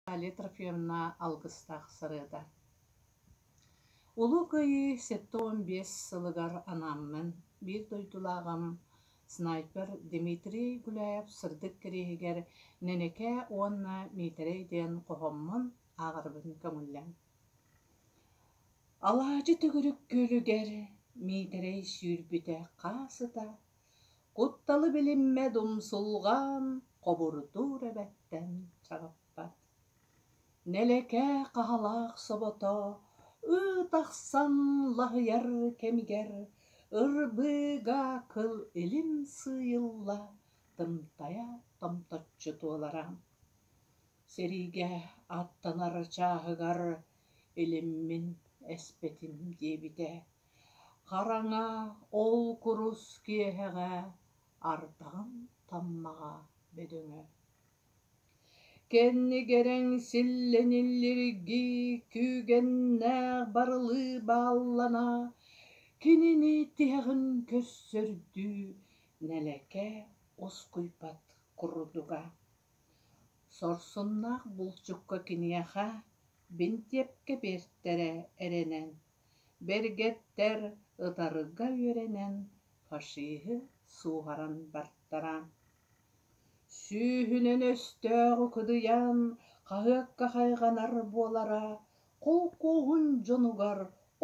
Наталья Трофимовна алгыстаах сырыыта. Улуу Кыайыы сэттэ уон биэс сылыгар анааммын биир дойдулааҕым снайпер Дмитрий Гуляев сырдык кэриэһигэр Нэнэкэ уонна Миитэрэй диэн хоһоммун ааҕарбын көҥүллэн. Алаадьы төгүрүк күөлүгэр Миитэрэй сүүрбүтэ хаас ыта Кутталы билиммэт умсулҕаан хобурутуур эбэттэн чаҕыппат Нэлэкээ хаһалаах собото ыы тахсан лаһыйар кэмигэр ырбыыга кыл илим сыыйылла тымтайа томточчу туолара Сиригэ аттанар чааһыгар илиммин эспэтим диэбитэ Хараҥа ол курус киэһэҕэ ардаҕын таммаҕа бөдөҥө Кэннигэрэҥ силлэниллиргии күүгэннээх барылыы бааллана Кинини тиһэҕин көрсөрдүү нэлэкэ оскуйбат курдуга Сорсуннаах булчукка киниэхэ бинтиэпкэ биэртэрэ эрэнэн Бэргэттэр ытарыга үөрэнэн фашиһы сууһаран бартара Сүүһүнэн өстөөх укудуйан хаһыакка хайҕанар буолара холкуоһун дьонугар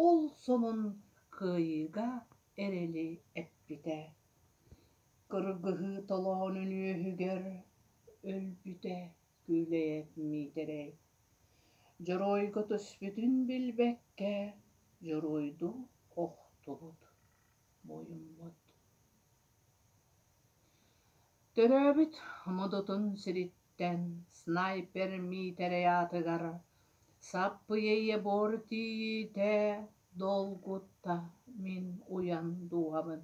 ол сонун кыайыыга эрэли эппитэ. Кыргыһыы толоонун үөһүгэр өлбүтэ. күүлэйэ миитэрэй дьоруойга түспүтүн билбэккэ дьоруойдуу охтубут муйуммут төрөөбүт модутун сириттэн снайпер миитэрэй аатыгар саппыйа ийэ буор тиийиитэ долгутта мин уйан дууһабын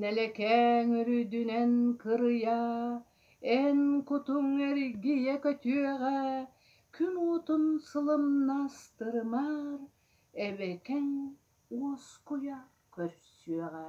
Нэлэкээҥ үрдүнэн кырыйа, эн кутуҥ эргийэ көтүөҕэ, күн уутун сылымнастырымар, эбэкэҥ уоскуйа көрсүөҕэ